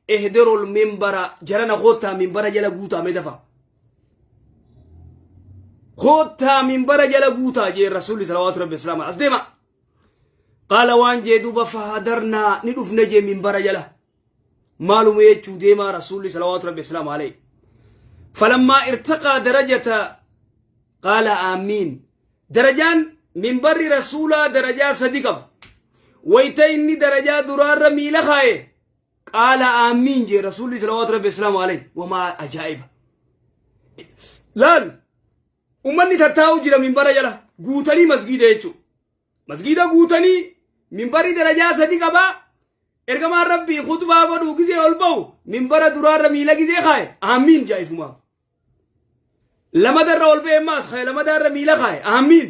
Ehderol membara jarana koottaa minbara jala guutaa mee dafa. Koottaa minbara jala guutaa jee rasuulli salawaatu rabbi islaama as deema. Qaala waan jee duuba fahadarnaa ni dhufne jee minbara jala. Maaluma jechuu deemaa rasuulli salawaatu rabbi islaama alee. Falammaa irtaqaa darajata qaala aamiin. Darajaan minbarri rasuulaa darajaa sadi qaba. Wayita inni darajaa duraarra miila kaaye. qaala aamiin jee rasuulli salawaatu rabbi islaamu alayhi wamaa ajaa'iba laal ummanni tattaa'u jira minbara jala guutanii masgiida jechuu masgiida guutanii minbarri darajaa sadi qabaa ergamaan rabbii khutbaa godhuu gizee ol ba'u minbara duraarra miila gizee kaaye aamiin jaa'ifumaa lamadarra ol ba'e maas kaaye lamadaarra miila kaaye aamiin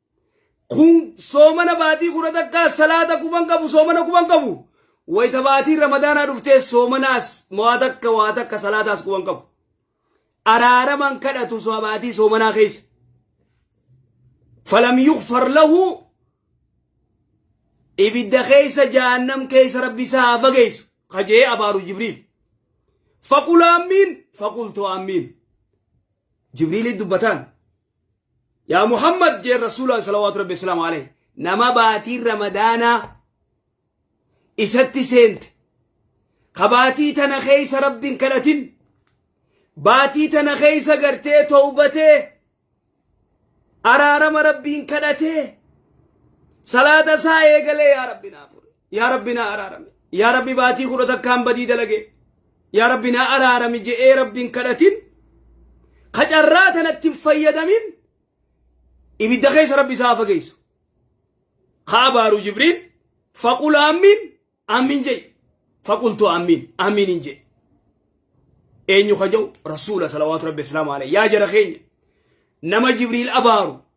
kun soomana baatii kudha takkaa salaata kuban qabu soomana kuban qabu wayta baatiin ramadaanaa dhuftee soomanaas waa takka waa takka salaataas kuban qabu araaraman kadhatu baatii soomanaa keessa falam yukfar lahu ibidda keessa jahannam keessa rabbi isaa haa fageessu kajee abaaru jibriil faqul aamiin faqultu aamiin jibriilii dubbataan Yaa Muhammad jeen Rasuulaan salawaatu Rabbi Islaam alayhi nama baatiin Ramadaanaa isatti seente kabaatii tana keessa Rabbiin kadhatin baatii tana keessa gartee towbatee araarama Rabbiin kadhatee salaata isaa eegalee yaa Rabbi naaf yaa rabbi naa araarami yaa rabbi baatii kudha takkaan badii dalage yaa rabbi naa araarami je'ee rabbiin kadhatin ka carraa tanatti hin fayyadamin ibidda keessa rabbi isaa fageessu ka abaaru jibriil faqul aamiin aamiin je'i faqultu aamiin aamiin hin je'i eenyu ka ja'u rasuula salawaatu rabbi islaamu alayhi yaa jara keenya nama jibriil abaaru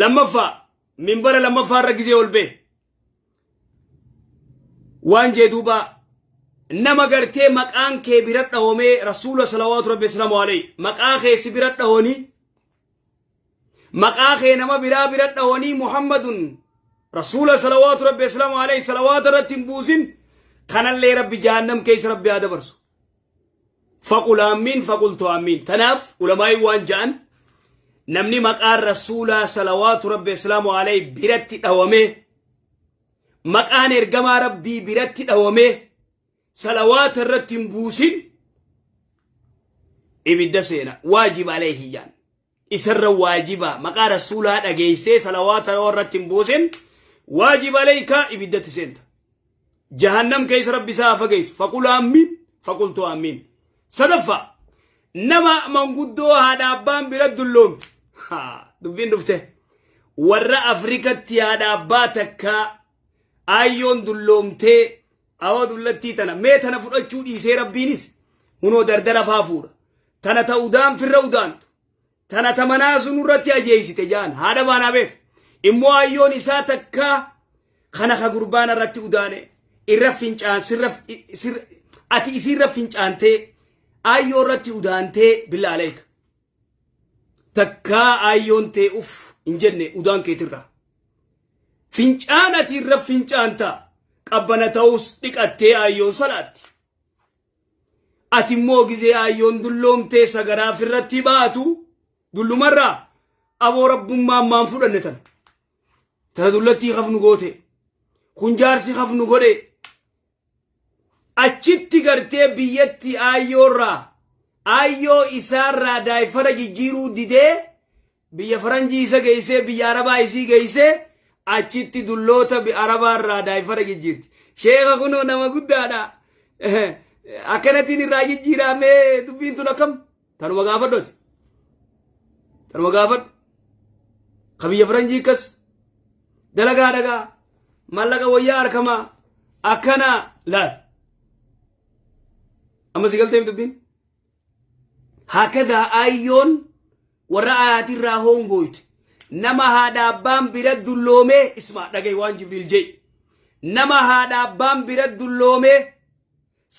lammaffaa minbara lammaffaa irra gizee ol bee waan jee duubaa nama gartee maqaan kee bira dhahomee rasuula salawaatu rabbi islamu alayhi maqaa kee si bira dhahonii maqaa kee nama biraa bira dhahonii muhammadun rasuula salawaatu rabbi islamu alayhi salawaata irratti hin buusin kanallee rabbi jahannam keessa rabbi haa dabarsu Faqul aammiin faqultu aammiin. Tanaaf ulamaa'iin waan ja'an namni maqaan rasuulaa salawaatu rabbi islaamu alayhi biratti dhawamee maqaan ergamaa rabbii biratti dhawamee salawaata irratti hin buusin ibidda seena waajib alayhi jaan. isarra waajiba maqaa rasuulaa dhageessee salawaata yoo irratti hin buusin waajiba leeyka ibiddatti seenta jahannam keessa rabbi isaa fageessu faqul aammiin faqultu aammiin sadaffaa nama manguddoo haadha abbaan bira dulloomte dubbiin dhufte warra afrikatti haadha abbaa takkaa aayyoon dulloomtee Awoo dullattii tana mee tana fudhachuu dhiisee rabbiinis hunoo dardara faa fuudha. Tana ta udaan firra udaantu. Tana ta manaa sun irratti ajeeysite jaan haadha baanaa beek. Immoo ayyoon isaa takkaa kana ka gurbaana irratti udaane irra fincaan sirra sirra ati isiirra fincaantee ayyoo irratti udaantee billaa aleeka. takkaa aayyoon tee uf hin jenne udaan keetirraa. Fincaan ati irra fincaanta qabbana ta'us dhiqattee aayyoon salaatti. Ati immoo gizee aayyoon dulloomtee sagaraa firratti baatu dullumarraa aboo rabbummaan maan fudhanne tana. Tana dullattii hafnu goote. Kun jaarsi hafnu godhe. Achitti gartee biyyatti aayyoorraa aayyoo isaarraa daayfara jijjiiruu didee biyya faranjii isa geessee biyya arabaa isii geessee achitti dulloota arabaarraa daayfara jijjiirti. Sheeka kunoo nama guddaadha. Akkanatiin irraa jijjiiraamee dubbiin tun akkam? tanuma gaafadhu ati tanuma gaafadhu ka biyya faranjii akkas dalagaa dhagaa mallaqa wayyaa harkamaa akkana laal amma si galteem dubbiin hakadaa ayyoon warra ayaatirraa hoongooyte nama haadha abbaan bira dulloomee ismaa dhagay waan jibriil jee nama haadha abbaan bira dulloomee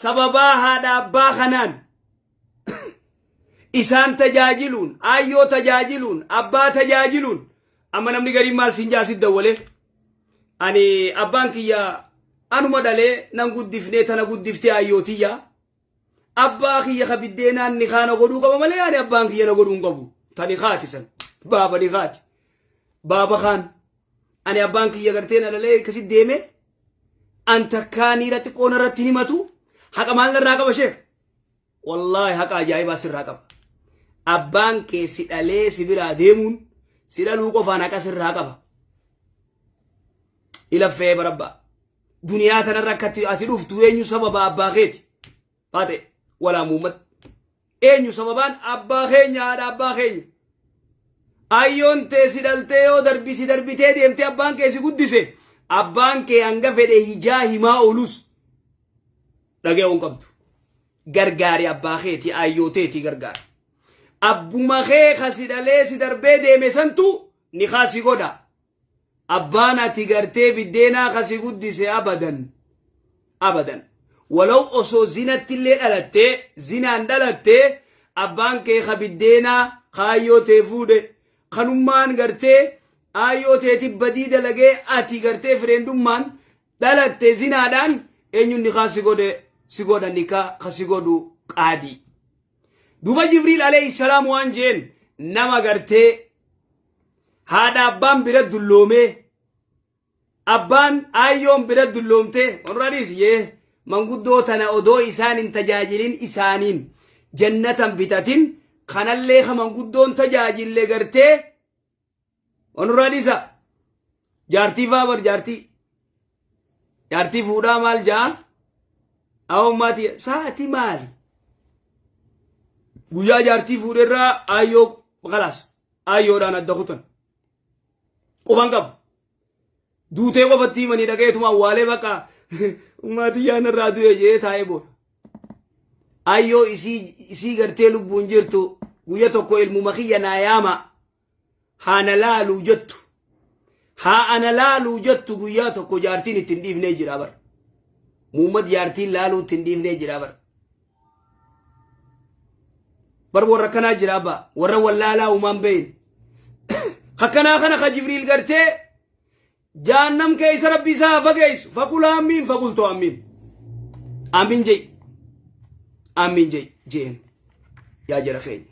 Sababaa haadha abbaa kanaan isaan tajaajiluun, aayyoo tajaajiluun, abbaa tajaajiluun amma namni gariin maal siin jaa sit dawwalee ani abbaan kiyya anuma dhalee nan guddifnee tana guddiftee aayyoo tiyya abbaa kiyya ka biddeenaan ni kaana godhuu qaba malee ani abbaan kiyya na godhuu hin qabu tani kaati san baaba ni kaati baaba kaan ani abbaan kiyya gartee na lalee akkasi deeme an takkaa niira xiqqoo narratti hin himatu haqa maal narraa qaba sheekh wallaahi haqa ajaa'ibaa sirraa qaba abbaan kee si dhalee si biraa deemuun si dhaluu qofaan haqa sirraa qaba ilaffee barabbaa duniyaa kanarra akkatti ati dhuftu eenyu sababa abbaa keeti faate walaa muummatti Eenyu sababaan abbaa keenya haadha abbaa keenya. Ayyoon tee si dhaltee yoo darbi si darbitee deemtee abbaan kee si guddise abbaan kee hanga fedhe hijaa himaa oolus dhaga'uu hin qabdu. Gargaari abbaa keeti ayyoo teeti gargaari. Abbuma kee ka si dhalee si darbee deeme santu ni kaasi godha. Abbaan ati gartee biddeenaa ka si guddise abadan abadan walaw osoo zinattillee dhalattee zinaan dhalatte abbaan kee ka biddeenaa ka aayyoo tee fuudhe kanummaan gartee aayyoo teeti badii dalagee ati gartee fireendummaan dhalatte zinaadhaan eenyuun nikaa si godhe si godha nikaa ka si godhu qaadii. Duuba Jibriil alayhi salaam waan jeen nama gartee haadha abbaan bira dulloomee abbaan aayyoon bira dulloomte onrariis yee manguddoo tana odoo isaan hin tajaajilin isaaniin jannatan bitatin kanallee ka manguddoon tajaajille gartee onrariisa jaartii faabar jaartii jaartii fuudhaa maal ja'a awummaati sa'ati maali guyyaa jaartii fuudherraa aayyoo kalaas aayyoodhaan adda kutan quban qabu duutee qofatti himanii dhaga'eetuma awwaalee bakka ummaatii yaana irraa du'e jee taa'ee booda ayyoo isii isii gartee lubbuun jirtu guyya tokko ilmuma kiyya naa yaama haana laaluu jettu haa ana laaluu jettu guyyaa tokko jaartiin itti hin dhiifnee jira bar muummad jaartiin laaluu itti hin dhiifnee jira bar bar warra kanaa jira abbaa warra wallaalaa uumaan beeyin akkanaa kana ka jibriil gartee jaannam keessa rabbi isaa haa fageessu faqul aamiin faqultu aamiin aamiin jei aamiin jei jeen yaa jara keenya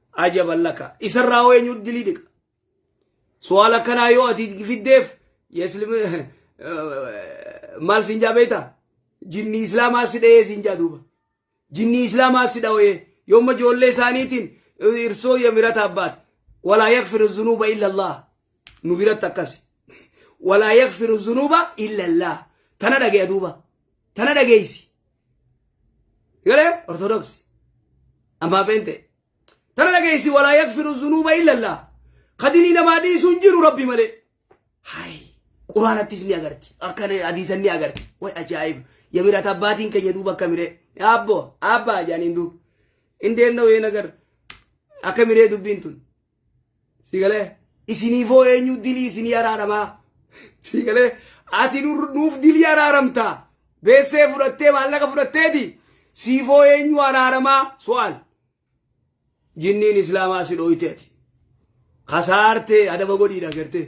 Ajaban laka. Isarraa hoo eenyutu dilii dhiqa? Su'aala akkanaa yoo ati fiddeef yeslim maal siin jaa beektaa? Jinni islaamaa si dhahee siin jaa duuba. Jinni islaamaa si dhahee yoomma ijoollee isaaniitiin irsoo yamirataa baate. Walaa yakfiru zunuuba illa Allah. nu biratti akkasi walaa yakfiru zunuuba illallah tana dhageeya duuba tana dhageeysi galee ortodoksi ammaa beente tana dhageeysi walaa yakfiru zunuuba illallah kadinii namaa dhiisuu hin jiru rabbi malee hay quraanattis ni agarti akka hadiisan ni agarti way ajaa'iba yamirat abbaatiin keenya duuba akka miree abbo abbaa jaaniin duuba hin deemna wayeen agar akka miree dubbiin tun sii galee isiniifoo eenyu dilii isinii araaramaa sii galee ati nur- nuuf dilii araaramta beessee fudhattee maallaqa fudhatteeti siifoo eenyu araaramaa so'aal jinniin islaamaa si dhooyteeti kasaartee adaba godhiidha gartee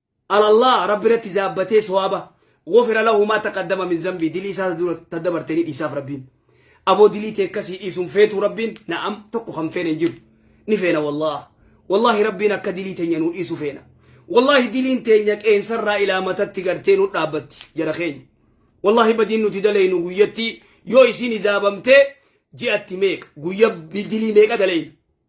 Ala Allaah Rabbi irratti zaabbatee sowaaba, Ghufira lahu maa taqaddama min zanbii, dilii isaa ta dura ta dabarte ni dhiisaaf Rabbiin. Aboo dilii tee akkasii dhiisu hin feetuu Rabbiin? Na'am, tokko kan feene hin jiru. Ni feena wallaah. Wallaahi Rabbiin akka dilii teenya nuu dhiisu feena. Wallaahi diliin teenya qeensa irraa ilaa matatti gartee nu dhaabbatti, jara keenya. Wallaahi badiin nuti daleynu guyyatti yoo isiin hizaabamtee ji'atti meeqa, guyya dilii meeqa daleyna.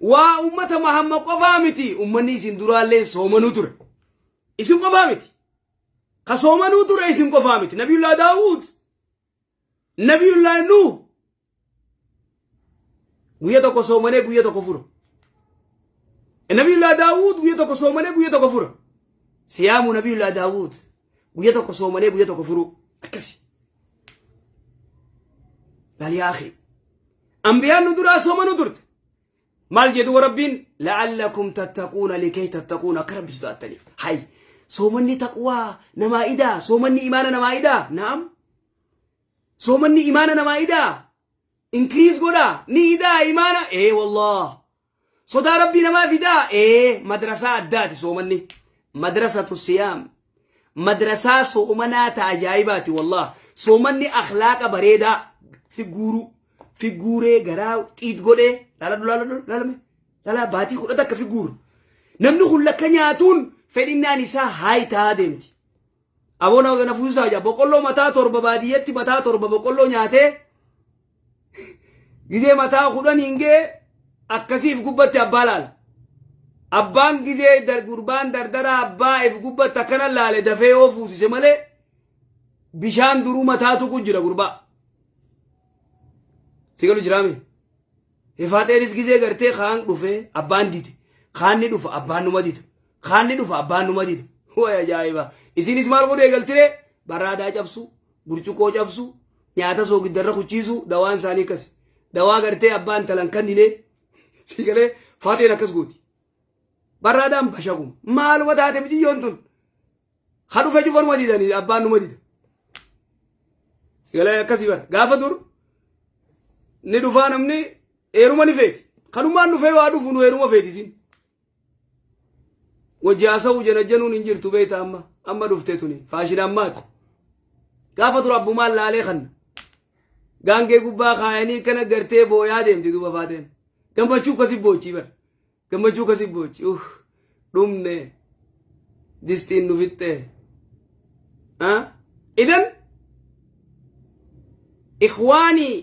Waa ummata mahamma qofaa miti ummanni isin duraalleen soomanuu ture. Isin qofaa miti. Ka soomanuu ture isin qofaa miti. Nabiyullaa Daawud, Nabiyullaa Nuuh. Guyya tokko soomanee guyya tokko fura. Nabiyullaa Daawud guyya tokko soomanee guyya tokko fura. Siyaamu Nabiyullaa Daawud. guyya tokko soomanee guyya tokko furuu akkasi laliyaakee anbiyaan nu duraa soomanu turte maal jedhu rabbiin la'allakum tattaquuna likee tattaquuna akka rabbi sodaattaniif hay soomanni taqwaa namaa idaa soomanni imaana namaa idaa naam soomanni imaana namaa idaa inkiriis godhaa ni idaa imaana ee wallah Sodaa Rabbii namaa fidaa? Ee, madrasaa addaati soomanni. Madrasatu siyaam. Madrasaa soomanaa ta ajaa'ibaati wallah. Soomanni akhlaaqa bareedaa si guuru. Si guuree garaa xiit godhee. Laaladhu laaladhu laalame. Laalaa baatii kudha takka si guuru. Namni kun lakka nyaatuun fedhinnaan isaa haay ta'aa deemti. Aboo na, na fusisaa jaa. Boqolloo mataa torba baadiyyatti mataa torba boqolloo nyaatee gizee mataa kudhan hin gee akkasiif gubbatti abbaa laala. Abbaan gizee dar, gurbaan dardaraa abbaa if gubbatti akkana laale dafee yoo fuusise malee bishaan duruu mataa tuqu jira gurbaa. Sigalu jiraamee? Efaaxeenis gizee gartee kaan dhufee abbaan dide. Kaan ni dhufa abbaan numa dida. Kaan ni dhufa abbaan numa dida. Way ajaa'iba. Isinis maal godhu eegaltire? Baraadaa cabsu, burcuqqoo cabsu, nyaata soogiddarra kuchiisu dawaan isaanii akkasi. Dawaa gartee abbaan talan kannine si galee faaxeen akkas gooti. Barraadaan bashaguma. Maaluma taate biyyoon tun? Ha dhufe cufaruma didani abbaan numa dida. Sigalee akkasii bara. Gaafa dur ni dhufaa namni eeruma ni feeti. Kanumaan dhufee waa dhufu nu eeruma feeti isin. Wajji haasa'uu janajjanuun hin jirtu beekta amma. Amma dhuftee tuni. Faashina ammaati. Gaafa dur abbumaan laalee kanna. Gaangee gubbaa kaayanii kana gartee booyaa deemti duuba faateen. Gammachuu akkasii boochii bara. Gammachuu kasi boochi uh dhumne distiin nu fixxe. Ah? Idan ikhwaanii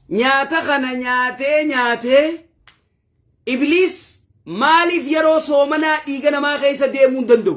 nyaata kana nyaatee nyaatee ibliis maaliif yeroo soomanaa dhiiga namaa keessa deemuu hin danda'u?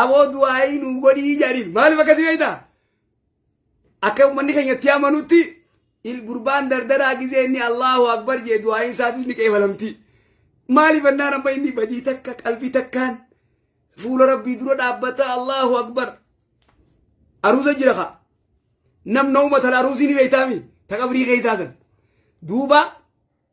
Aboo du'aayii nuu godhii jedhaniin maaliif akkasii beekta? Akka uummanni keenya itti amanutti il gurbaan dardaraa gizee inni Allahu Akbar jee du'aayiin isaatiif ni qeebalamti. Maaliif ennaan amma inni badii takka qalbii takkaan fuula rabbii dura dhaabbata Allahu Akbar. Aruuza jira ka. Namna uummatan aruusii ni beektaami ta qabrii keessaa san. Duuba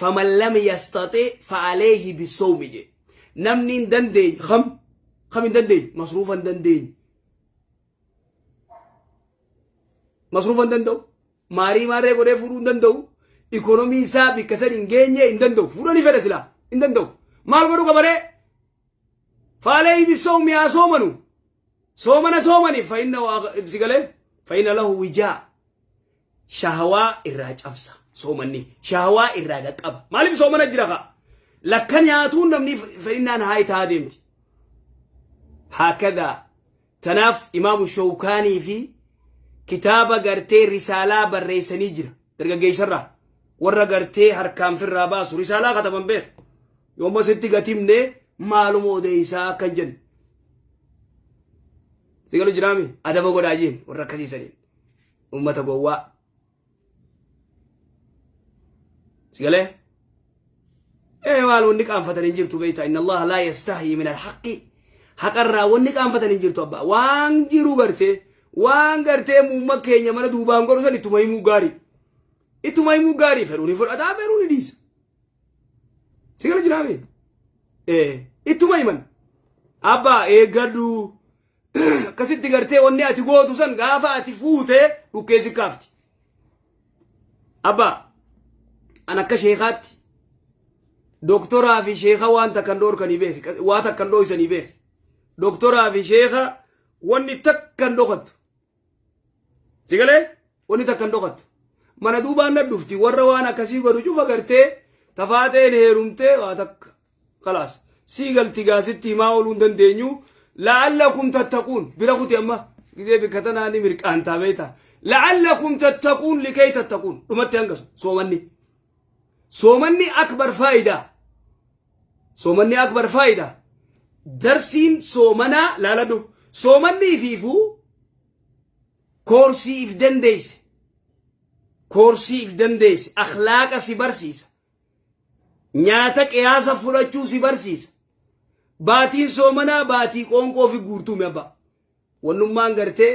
faman lam yastaxi fa'aleehi bisawmi jee namni hin dandeenye kam kam hin dandeenye masruufa hin dandeenye masruufa hin danda'u maarii maarree godhee fuudhuu hin danda'u ikoonomii isaa bikka san hin geenye hin danda'u fuudhanii fedha silaa hin danda'u maal godhu qabaree fa'aleehi bisawmi haa soomanu soomana soomaniif fa'inna sigalee fa'inna lahu wijaa shahawaa irraa cabsa soomanni shahawaa irraa dhaqqaba maaliif soomana jira kaa lakka nyaatuun namni fedhinnaan haay taa deemti haakadaa tanaaf imaamu shawkaanii fi kitaaba gartee risaalaa barreessanii jira dargaggeessarraa warra gartee harkaan firraa baasu risaalaa kataban beeku yooma sitti gatimne maaluma odeessaa akkan jennu si galu jiraami adaba godhaa jeen warra akkasiisaniin Uummata gowwaa. Sigalee? Ee maal wanni qaanfatan hin jirtu beektaa inna Allah laa yastahii min alhaqi haqarraa wanni qaanfatan hin jirtu abbaa waan jiru gartee waan gartee muumma keenya mana duubaan godhu san ittuma himuu gaarii ittuma himuu gaarii fedhuun hin fudhataa fedhuun hin dhiisa sigala jiraame ee ittuma himan abbaa eeggadhu akkasitti gartee wanni ati gootu san gaafa ati fuute dhukkee si kaafti abba an akka sheekaatti doktoraa fi sheeka waan takkan dhoorkanii beeke waa takkan dhooysanii beeke doktoraa fi sheeka wanni takkan dhokattu Si galee wanni takka hin dhokattu. Mana duubaan na dhufti warra waan akkasii godhu cufa gartee tafaateen heerumtee waa takka. Kalaas sii galti gaasitti himaa ooluu hin dandeenyu. La'allakum tattaquun bira kuti amma gizee bikka tanaa ni mirqaantaa beektaa. La'allakum tattaquun likee tattaquun dhumatti hanga soomanni. Soomanni akbar faayidaa. Soomanni akbar faayidaa. Darsiin soomanaa laaladhu. Soomanni ifiifuu koorsii if dandeesse. Koorsii if dandeesse. Akhlaaqa si barsiisa. Nyaata qiyaasa fudhachuu si barsiisa. Baatiin soomanaa baatii qoonqoo fi guurtuumi abbaa. Wannummaan gartee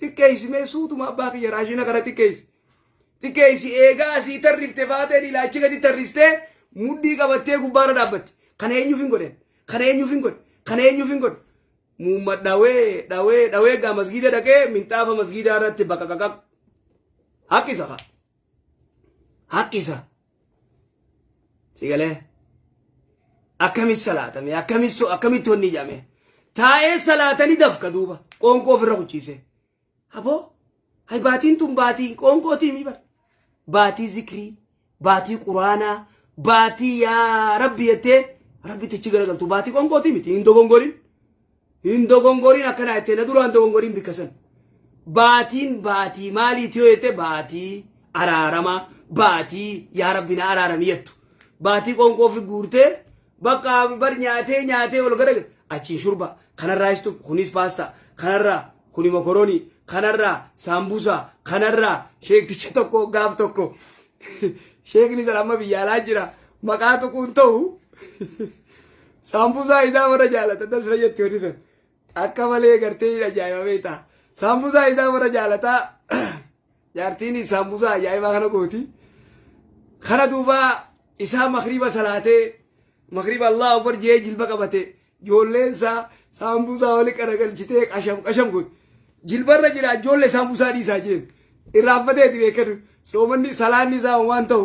Xiqqeessi mee suutuma abbaa kiyya raashina kana xiqqeessi. Xiqqeessi eegaa asii tarrifte faateen ilaa achi gadi tarristee mudhii qabattee gubbaarra dhaabbatti. Kana eenyuuf hin godhe? Kana eenyuuf hin godhe? Kana eenyuuf hin godhe? Muumma dhawee dhawee dhawee gaa masgiida dhaqee minxaafa masgiidaa irratti baqaqaqaq. Haqqisa kaa. Haqqisa. sigalee akkamit salaatame akkamit so akkamit tonni ijame taa'ee salaatani dafka duuba qoonqoo ofirra kuchiise aboo hay baatiin tun baatii qoonqootii mi bar baatii zikrii baatii quraanaa baatii yaa rabbi jettee rabbi tichi garagaltu baatii qoonqootii miti hin dogongorin Hin dogongorin akkanaa jettee na duraan dogongorin bikka san. Baatiin baatii maalii tiyoo jettee baatii araarama baatii yaa rabbi na araarami jettu. Baatii qoonqoo fi guurtee bakka bar nyaatee nyaatee ol gara achiin shurba kanarraa istu kunis paastaa kanarraa kuni mokoroonii kanarraa saambusaa kanarraa sheekticha tokko gaaf tokko sheekni san amma biyya alaa jira maqaa tuquun ta'u Saambusaa isaa warra jaalatan dasra jetti warri sun. Akka malee gartee hin ajaa'iba beektaa. Saambusaa isaa warra jaalataa jaartiin saambusaa ajaa'ibaa kana gooti. Kana duuba isaa makriba salaatee makriba Allah akbar jee jilba qabate ijoolleen isaa saambusaa wali qaragalchitee qasham qasham gooti. Jilbarra jira ijoollee saambusaa dhiisaa jeen. Irraanfateeti beekadu soomanni salaanni isaa waan ta'u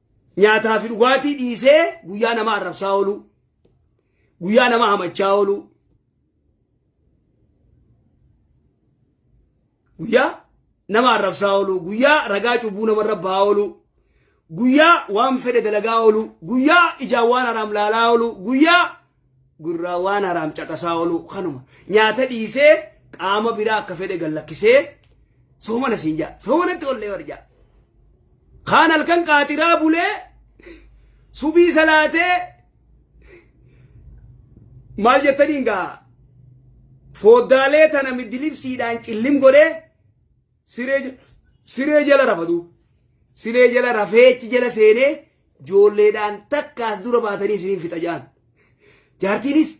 Nyaataa fi dhugaatii dhiisee guyyaa nama arrabsaa ooluu. Guyyaa nama hamachaa ooluu. Guyyaa nama arrabsaa ooluu. Guyyaa ragaa cubbuu namarra ba'aa ooluu. Guyyaa waan fedhe dalagaa ooluu. Guyyaa ijaan waan haraam laalaa ooluu. Guyyaa Gurraan waan haraam caqasaa oluu kanuma. Nyaata dhiisee qaama biraa akka fedhe gallakkisee soomana siin jaa. Soomanatti ollee warjaa. Kaan halkan qaatiraa bulee subii salaatee maal jettaniin gaa fooddaalee tana middilibsiidhaan cillim godhee Siree ja- siree jala rafa duuba. Siree jala rafeechi jala seenee joolleedhaan takka as dura baatanii isiniin fixa ja'an. Jaartiinis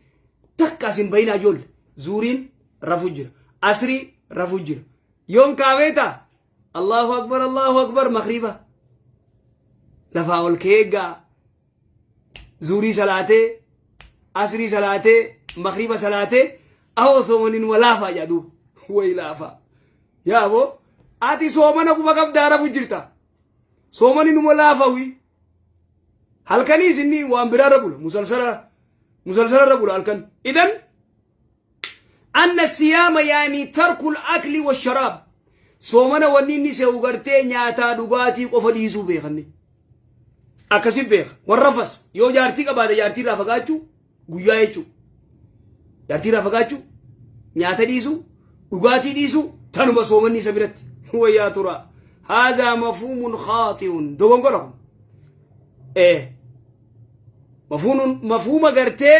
takka as hin bayinaa joolle. Zuuriin rafu jira. Asrii rafu jira. Yoon kaabeeta Allahu akbar Allahu akbar makriba. Lafaa ol keeggaa zuurii salaatee asrii salaatee makriba salaatee ahoo soomaniin wa laafaa jedha duuba wayi laafaa yaa aboo ati soomana quba qabdaa rafu jirta soomaniin uma laafawi halkanii isinni waan biraa irra bula musalsala musalsala irra bula halkan idan anna siyaama yaanii tarkul akli wa sharaab soomana wanni inni se'u gartee nyaataa dhugaatii qofa dhiisuu beekanne akkasi beeka warrafas yoo jaartii qabaate jaartii irraa fagaachuu guyyaa jechuu jaartii irraa fagaachuu nyaata dhiisuu dhugaatii dhiisuu tanuma soomanni isa biratti wayyaa tura haadhaa mafuumun khaaxi'un dogongora kun ee mafuumun mafuuma gartee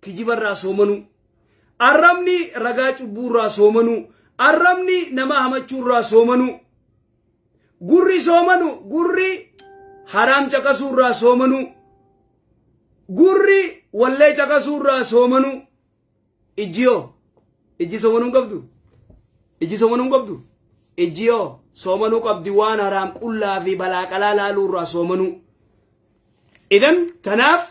kijibarraa soomanuu. Arrabni ragaa cubbuurraa soomanuu. Arrabni nama hamachuurraa soomanuu. Gurri soomanu gurri haraam caqasuurraa soomanuu. Gurri wallee caqasuurraa soomanuu. Ijjiyoo. Ijji soomanuu hin qabdu. Ijji soomanuu hin qabdu. Ijjiyoo soomanuu qabdi waan haraam qullaa fi balaa qalaa laaluurraa soomanuu. Idan tanaaf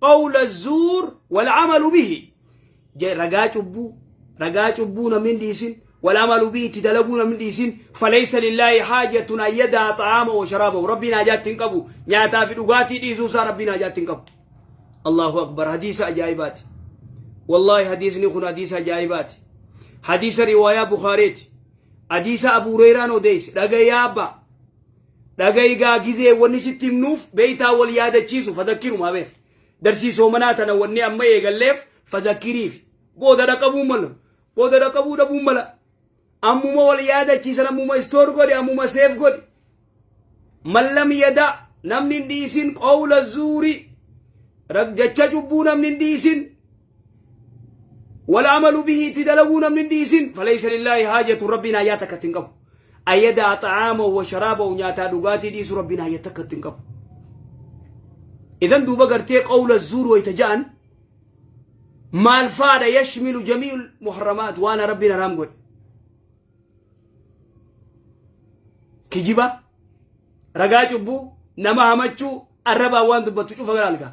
qawla zuur wal amalu bihi Je- ragaa cubbuu ragaa cubbuu namni hin dhiisin wal amalu bihi itti dalaguu namni hin dhiisin falaysa lillaahi haajatun an yadaa xa'aama wa sharaabahu rabbiin haajaatti hin qabu nyaataa fi dhugaatii dhiisuu isaa rabbiin haajaatti hin qabu allahu akbar hadiisa ajaa'ibaati wallaahi hadiisni kun hadiisa ajaa'ibaati hadiisa riwaayaa bukaareeti hadiisa abu hureyraa odeesse dhagayaa abbaa Dhagayi gaa gizee wani sitti himnuuf beeytaa wal yaadachiisu fadakkirum habeef darsii soomanaa tana wanni amma eegalleef fadakkiriifi booda dhaqabuu mala booda dhaqabuu dhabuu mala ammuma wal yaadachiisan ammuma istoor godhi ammuma seef godhi mallam yadaa namni hin dhiisin qawla zuurii raggacha cubbuu namni hin dhiisin wala amalu bihi itti dalaguu namni hin dhiisin falaysa lillaahi haajatu rabbiin haajaa takka itti hin qabu ayyadaa xa'aamahu wa sharaabahu nyaataa dhugaatii dhiisu rabbiin haajaa takka itti hin qabu idan duuba gartee qawla zuur wayta ja'an maal faadha yashmilu jamii'ul muharramaat waan rabbiin haraam godhe kijiba ragaa cubbuu nama hamachuu arrabaa waan dubbattu cufa gara algaa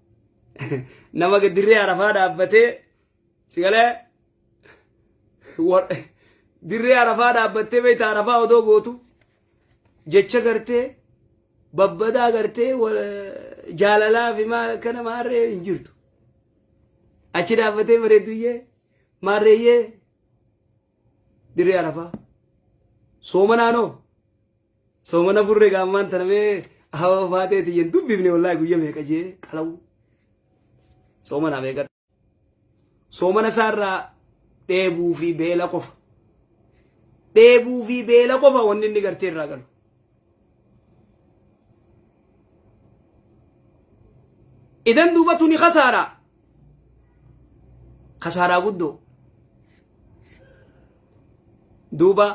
nama dirree arafaa dhaabbatee sigalee dirree arafaa dhaabbattee beekta arafaa odoo gootu jecha gartee babbadaa gartee jaalalaa fi maa akkana maarree hin jirtu achi dhaabbatee bareedduyyee maarreeyyee Dirree Arafaa. Sooma naanoo. Sooma na furre gaammaan tana mee hawa baatee tiyyan dubbifne wallaahi guyya meeqa jee qalawu. Sooma naa meeqa. Sooma na saarraa dheebuu fi beela qofa. Dheebuu fi beela qofa wanni inni gartee irraa galu. Idan duuba tuni kasaara. kasaaraa guddoo duuba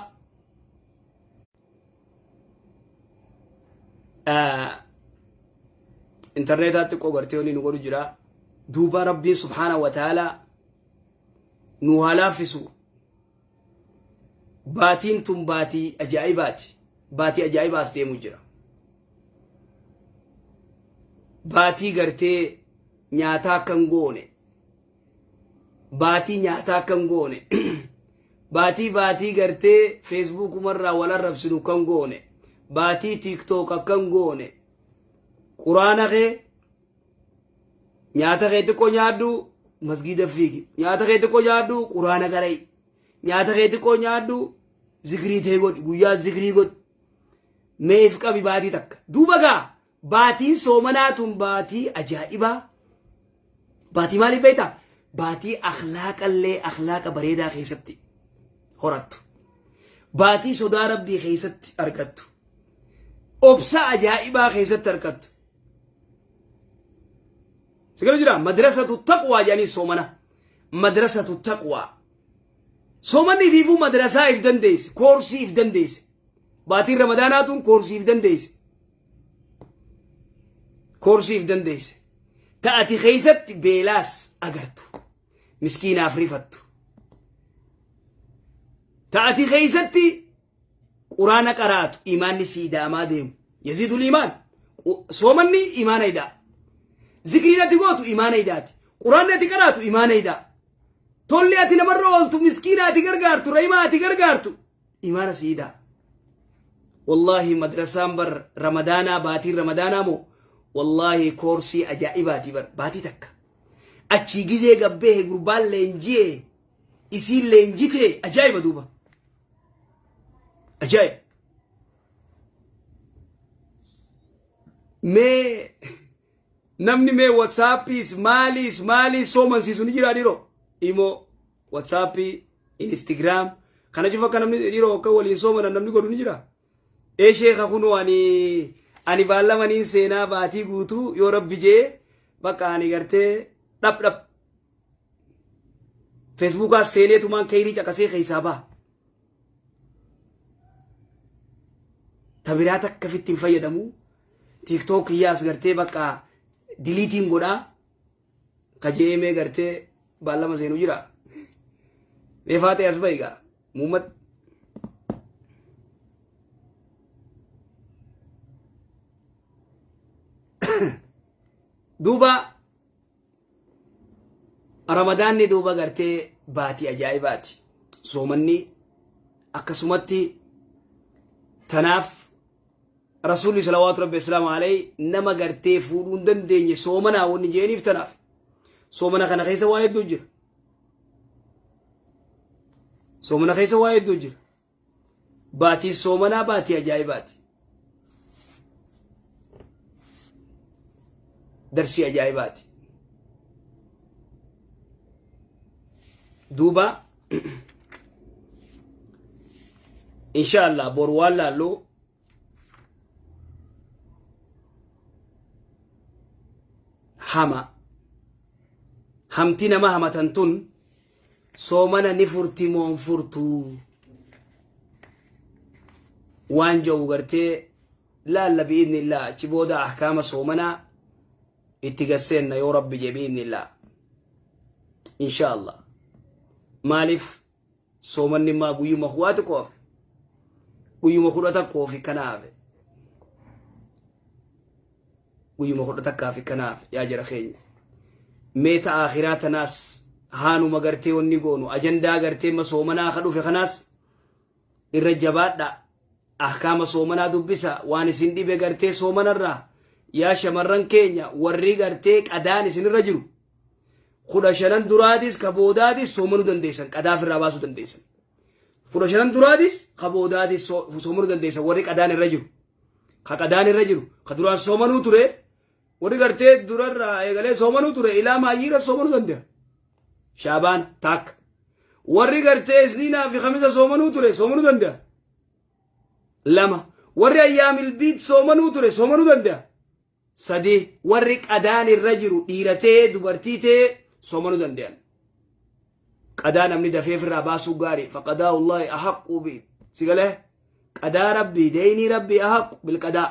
intarneetaa xiqqoo gartee waliin nu godhu jira duuba rabbiin subhaana wa ta'aalaa nu haa laaffisu Baatiin tun baatii ajaa'ibaati. Baatii ajaa'ibaa as deemu jira. Baatii gartee nyaataa akka hin goone. Baatii nyaataa akka hin goone. Baatii baatii gartee feesbuukumarraa wal arrabsinu kan goone. Baatii tiiktook akka hin goone. Quraana kee nyaata kee xiqqoo nyaadhu masgiida fiigi nyaata kee xiqqoo nyaadhu quraana qara'i nyaata kee xiqqoo nyaadhu zikrii tee godhi guyyaa zikrii godhi meef qabi baatii takka duuba gaa baatiin soomanaa tun baatii ajaa'ibaa baatii maaliif beekta baatii akhlaaqallee akhlaaqa bareedaa keessatti horattu baatii sodaa rabbii keessatti argattu obsa ajaa'ibaa keessatti argattu sigala jira madrasatu taqwaa jedhanii soomana madrasatu taqwaa soomanni ifiifuu madrasaa if dandeesse koorsii if dandeesse baatiin ramadaanaatuun koorsii if dandeesse koorsii if dandeesse ta'ati keessatti beelaas agartu miskiinaaf rifattu ta'ati keessatti quraana qaraatu imaanni sii daamaa deemu yaziidul imaan soomanni imaana idaa zikriin ati gootu imaana idaati quraanni ati qaraatu imaana idaa tolli ati namarra ooltu miskiina ati gargaartu rahimaa ati gargaartu imaana sii idaa wallaahi madrasaan bar ramadaanaa baatiin ramadaanaa moo wallaahi koorsii ajaa'ibaatii bar baatii takka achii gizee gabbee gurbaan leenjiyee isiin leenjite ajaa'iba duuba ajaa'iba mee namni mee whatsaappiis maaliis maaliis soomansiisu ni jiraa dhiroo imoo whatsappii instagram kana cufa akka namni dhiroo akka waliin soomanan namni godhu ni jiraa Ee sheeka kunoo ani ani baallama niin seenaa baatii guutuu yoo rabbi jee bakka ani gartee dhap dhap feesbuukaa seenee tumaan keeyrii caqasee keessaa baha. Tabiraa takka fitti hin fayyadamu tiiktook kiyyaas gartee bakka diliitiin godhaa kajeemee gartee baallama seenu jira mee faatee as ba'i gaa muummat duuba ramadaanni duuba gartee baatii ajaa'ibaati soomanni akkasumatti tanaaf Rasuulli salawaatu rabbi islaama alayhi nama gartee fuudhuu hin dandeenye soomanaa wanni jeeniif tanaaf soomana kana keessa waa hedduu jira. Soomana keessa waa hedduu jira. Baatiin soomanaa baatii ajaa'ibaati. Darsii ajaa'ibaati. Duuba insha allah bor waan laallu hama hamti nama hamatan tun soomana ni furti moon furtuu waan ja'u gartee laalla bi'idni illaa achi booda ahkaama soomanaa itti gad seenna yoo rabbi jee bi'innillaa insha allah maaliif soomanni immaa guyyuma kuwaa xiqqoo hafe guyyuma kudha takkoo fi kana hafe guyyuma kudha takkaa fi kana hafe yaa jara keenya mee ta aakhiraa tanaas haanuma gartee wanni goonu ajandaa gartee ma soomanaa ka dhufe kanaas irra jabaadhaa ahkaama soomanaa dubbisa waan isin dhibe gartee soomanarraa yaa shamarran keenya warri gartee qadaan isinirra jiru kudha shanan duraatis ka boodaatis soomanuu dandeessan qadaa ofirraa baasuu dandeessan kudha shanan duraatis ka boodaatis soo- soomanuu dandeessan warri qadaan irra jiru ka qadaan irra jiru ka duraan soomanuu ture Warri gartee durarraa eegalee soomanuu ture ilaa maayyiira soomanuu danda'a. Shaabaana taakka. Warri gartee isniinaa fi kamisa soomanuu ture soomanuu danda'a. Lama. Warri ayyaamil biit soomanuu ture soomanuu danda'a. Sadii. Warri qadaan irra jiru dhiira ta'ee dubartii ta'ee soomanuu danda'an. Qadaa namni dafee ofirraa baasuu gaarii faqadaa wallaahi ahaqquu biit. Sigalee qadaa rabbii deeynii rabbii ahaqqu bilqadaa.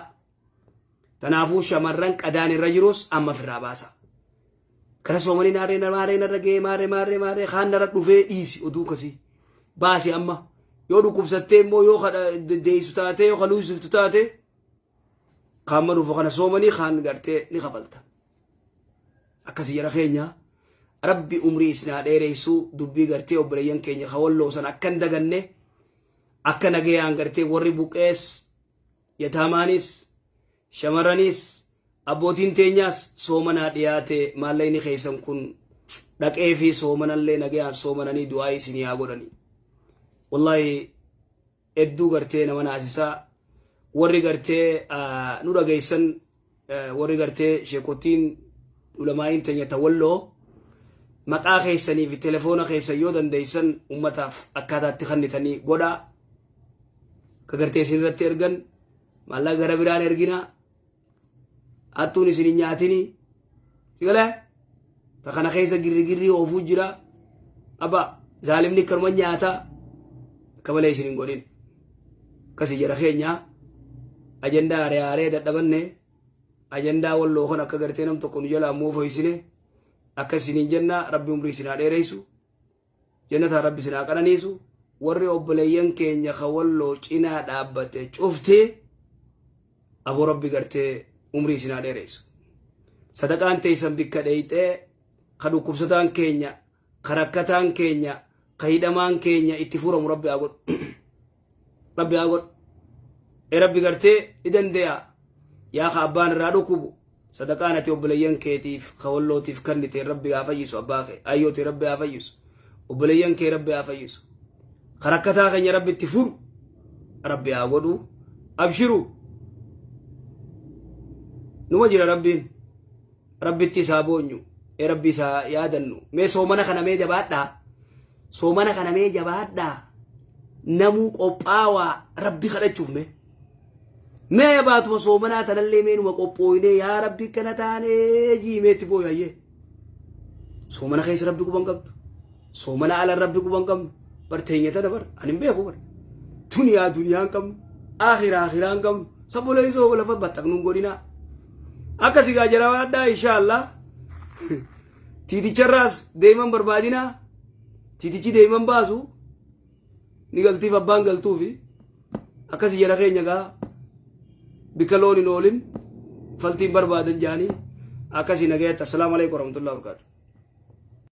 Tanaafuu shamarran qadaan irra jirus amma firraa baasa. Kana soomanii naarree maarree narra ga'ee maarree maarree maarree kaan narra dhufee dhiisi oduu kasii. Baasi amma yoo dhukkubsattee immoo yoo kadha deessu taatee yoo kaluusiftu taatee kaan maluuf kana soomanii kaan gartee ni kafalta. Akkasii jara keenyaa. rabbi umrii isinaa dheereessuu dubbii gartee obboleeyyan keenya hawalloo san akkan daganne akka nagayaan gartee warri buqees Yataamaanis, shamarraniis, abbootiin teenyaas soomanaa dhiyaate maallaqni keessan kun dhaqee fi soomanallee nagayaan soomananii du'aa isinii haa godhanii. Wallaahi hedduu gartee nama naasisaa warri gartee nu dhageessan warri gartee sheekottiin ulamaa'iin teenya ta walloo maqaa keessanii fi telefoona keessan yoo dandeessan ummataaf akkaataa itti kennitanii godhaa ka gartee isin irratti ergan maallaqa gara biraan ergina hattuun isin hin nyaatini sigala ta kana keessa girrigirrii oofuu jira aba zaalimni akkanuma nyaata akka malee isin hin godhin akkasii jedha keenya ajandaa aaree aaree dadhabanne ajandaa walloo kan akka gartee nam tokko nu jalaa moofoysine akka isiniin jenna rabbi umrii isin haa dheereysu Jannataan Rabbi isin haa qananiisu. Warri obboleeyyan keenya ka Walloo cinaa dhaabbate cufti aboo Rabbi gartee umrii isin haa dheereysu. Sadaqaan teeysan bikka dheeyxee ka dhukkubsataan keenya, ka rakkataan keenya, ka hidhamaan keenya itti furamu Rabbi haa godhu. rabbi haa godhu e rabbi gartee ni dandeeya yaa ka abbaan irraa dhukkubu sadaqaan ati obboleeyyan keetiif ka wallootiif kannite rabbi haa fayyisu abbaa kee ayyooti rabbi haa fayyisu obboleeyyan kee rabbi haa fayyisu ka rakkataa keenya rabbi itti furu rabbi haa godhu abshiru numa jira rabbiin Rabbitti isaa boonyu. Ee rabbi isaa yaadannu. Mee soomana kana mee jabaadhaa. Soomana kana mee jabaadhaa. Namuu qophaawaa rabbi kadhachuuf mee. Mee baatuma soomanaa tanallee mee numa qophooyinee yaa rabbi kana taanee jiimeetti booyayyee. Soomana keessa rabbi quban qabdu. Soomana ala rabbi quba hin qabnu. Bar teenya tana bar ani hin beeku bar. Duniyaa duniyaa hin qabnu. Akhira akhira hin qabnu. Sabbolee isoo lafa baxxaqnu hin godhinaa. Akka sigaa jarawa addaa inshaallah. Tiiticharraas deeman barbaadinaa. Tiitichi deeman baasu. Ni galtiif abbaan galtuufi. Akkasi jara keenya gaa bikka loon hin oolin faltiin barbaadan jaanii akkasi nagayatti assalaamu alaikum warahmatullahi wabarakatuh.